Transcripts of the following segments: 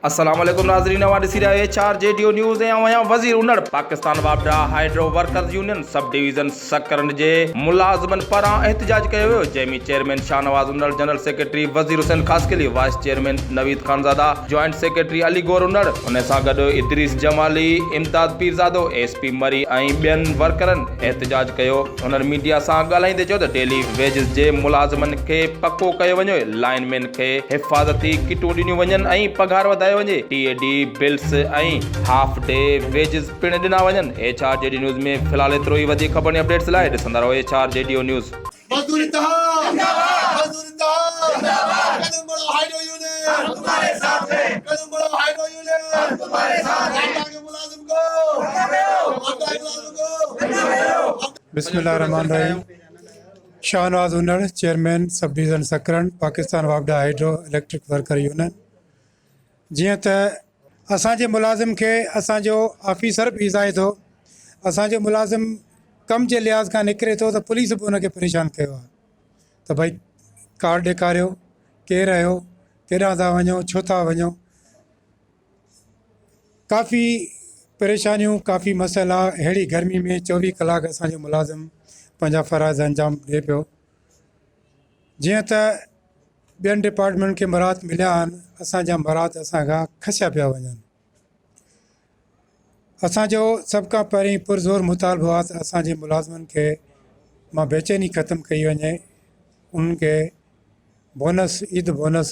السلام عليڪم ناظرين اوهان ڏسي رهيا H R G due news ۽ آئون آهيان وزير انڙ پاڪستان واپڊا hydro workers union sub division Sakrand جي ملازمن پاران احتجاج ڪيو ويو جنهن ۾ chairman Shahnawaz Unar general secretary Wazir Hussain Khaskheli vice chairman Naveed Khanzada joint secretary Ali Gor Unar ان سان گڏ ادريس جمالي امداد پيرزادو ايس پي مري ۽ ٻين ورڪرن احتجاج ڪيو. هن ميڊيا سان ڳالهائيندي چيو ته ڊيلي ويجز جي ملازمن کي پڪو ڪيو وڃي، لائن مين کي حفاظتي ڪٽون ڏنيون وڃن ۽ پگهار وڌايو وڃي، T A D bills ۽ half day wages پڻ ڏنا وڃن. H R G D news ۾ في الحال ايترو ئي وڌيڪ خبرن ۽ اپڊيٽس لاء ڏسندا رهو H R G due news. مزدور اتحاد زنده باد مزدور اتحاد زنده باد قدم بڙھاؤ ھائيڊرو يونين ھم تمھاري ساٿ ھين قدم بڙھاؤ ھائيڊرو يونين ھم تمھاري ساٿ ھين ٽاٽا جي ملازم بسم الله الرحمن الرحيم شاهنواز هونڙ chairman sub division Sakrand Pakistan واپڊا هائيڊرو اليڪٽرڪ ورڪر يونين جيئن ته اسان جي ملازم کي اسان جو آفيسر به ايذائي ٿو اسان جو ملازم ڪم جي لحاظ کان نڪري ٿو ته پوليس به ان کي پريشان ڪيو آهي ته ڀئي ڪارڊ ڏيکاريو ڪير آهيو ڪيڏانهن ٿا وڃو ڇو ٿا وڃو ڪافي پريشانيون ڪافي مسئلا اهڙي گرمي ۾ چوويهه ڪلاڪ اسان جو ملازم پنهنجا فرائض انجام ڏي پيو جيئن ته ٻين ڊپارٽمينٽ کي مراعات مليا آهن اسانجا مراعات اسان کان کسيا پيا وڃن اسانجو سڀ کان پهرين پرزور مطالبو آهي ته اسانجي ملازمن کي ماں بيچيني ختم ڪئي وڃي انهن کي بونس عيد بونس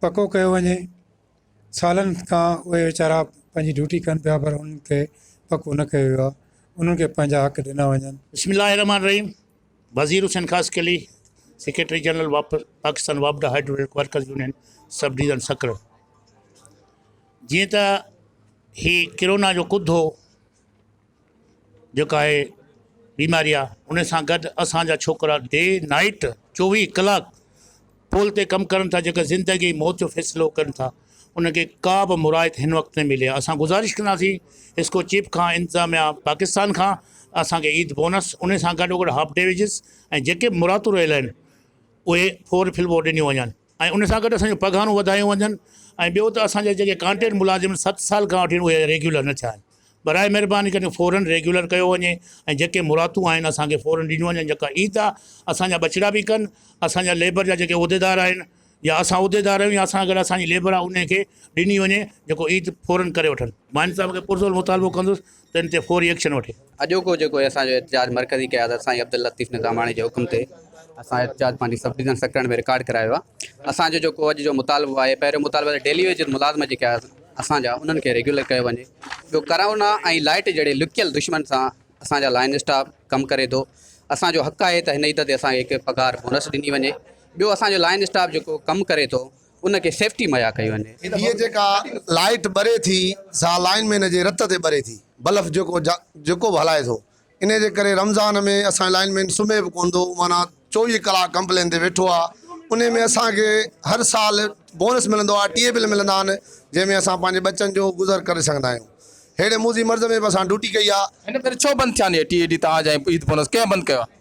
پڪو ڪيو وڃي. سالن کان اهي ويچارا پنهنجي ڊيوٽي ڪن پيا پر انهن کي پڪو نه ڪيو ويو آهي. انهن کي پنهنجا حق ڏنا وڃن. بسم الله الرحمٰن الرحيم Wazir Hussain Khaskheli secretary general واپ پاڪستان واپڊا head workers union sub division Sukkur جيئن ته هي ڪرونا جو ڪڌ هو جيڪا اهي بيماري آ ان سان گڏ اسان جا ڇوڪرا ڊي نائيٽ چوويهه ڪلاڪ پول تي ڪم ڪرن ٿا جيڪا زندگي ۽ موت جو فيصلو ڪن ٿا ان کي ڪا به مراعت هن وقت نه ملي آ اسان گذارش ڪنداسين اسڪو چيف کان انتظاميا پاڪستان کان اسان کي عيد بونس ان سان گڏوگڏ هاف ڊي ويجز ۽ جيڪي مراعتون رهيل آهن اهي فور فلور ڏنيون وڃن ۽ ان سان گڏ اسان جون پگهارون وڌايون وڃن ۽ ٻيو ته اسان جا جيڪي ڪانٽريڪٽ ملازم آهن ست سال کان وٺي اهي ريگيولر نه ٿيا آهن براء مهرباني ڪري فورن ريگيولر ڪيو وڃي ۽ جيڪي مراعتون آهن اسان کي فورن ڏنيون وڃن جيڪا عيد آهي اسان جا ٻچڙا به ڪن اسان جا ليبر جا جيڪي عهديدار آهن يا اسان عهديدار آهيون يا اسان گڏ اسان جي ليبر آهي ان کي ڏني وڃي جيڪو عيد فورن ڪري وٺن ماني صاحب کي پرزور مطالبو ڪندس تن تي فوري ايڪشن وٺي. اڄوڪو جيڪو اسان جو احتجاج مرڪزي قيادت سائين عبداللطيف نظاماڻي جي حڪم تي اسان احتجاج پنهنجي سب ڊويزن سڪرنڊ ۾ رڪارڊ ڪرايو آهي اسان جو جيڪو اڄ جو مطالبو آهي پهريون مطالبو آهي ته ڊيلي ويجز ملازم جيڪي آهي اسان جا انهن کي ريگيولر ڪيو وڃي ٻيو ڪرونا ۽ لائيٽ جهڙي لڪيل دشمن سان اسان جا لائين اسٽاف ڪم ڪري ٿو اسان جو حق آهي ته هن عيد تي اسان کي هڪ پگهار بونس ڏني وڃي ٻيو اسان جو لائين اسٽاف جيڪو ڪم ڪري ٿو ان کي سيفٽي مھيا ڪئي وڃي. ھيء جيڪا لائيٽ ٻري ٿي سا لائين مين جي رت تي ٻري ٿي بلف جيڪو جيڪو به ھلائي ٿو انھي جي ڪري رمضان ۾ اسان جو لائين مين سمھي به ڪونه ٿو معنيٰ چوويھ ڪلاڪ ڪمپلين تي ويٺو آ انھي ۾ اسان کي ھر سال بونس ملندو آ ٽيئي بل ملندا آھن جنھن ۾ اسان پنھنجي ٻچن جو گذر ڪري سگھندا آھيون ھيڙي موذي مرض ۾ به اسان ڊوٽي ڪئي آ. ھن ڀيري ڇو بند ٿيا آھن اھي ٽيئي ڊي تان جا عيد بونس ڪنھن بند ڪيو آ؟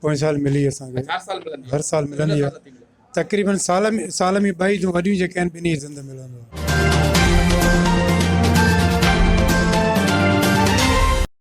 پوئين سال ملي اسان کي هر سال ملندي هر سال ملندي آهي تقريبن سال ۾ سال ۾ ٻه عيدون وڏيون جيڪي آهن ٻنهي عيدن تي ملندو آهي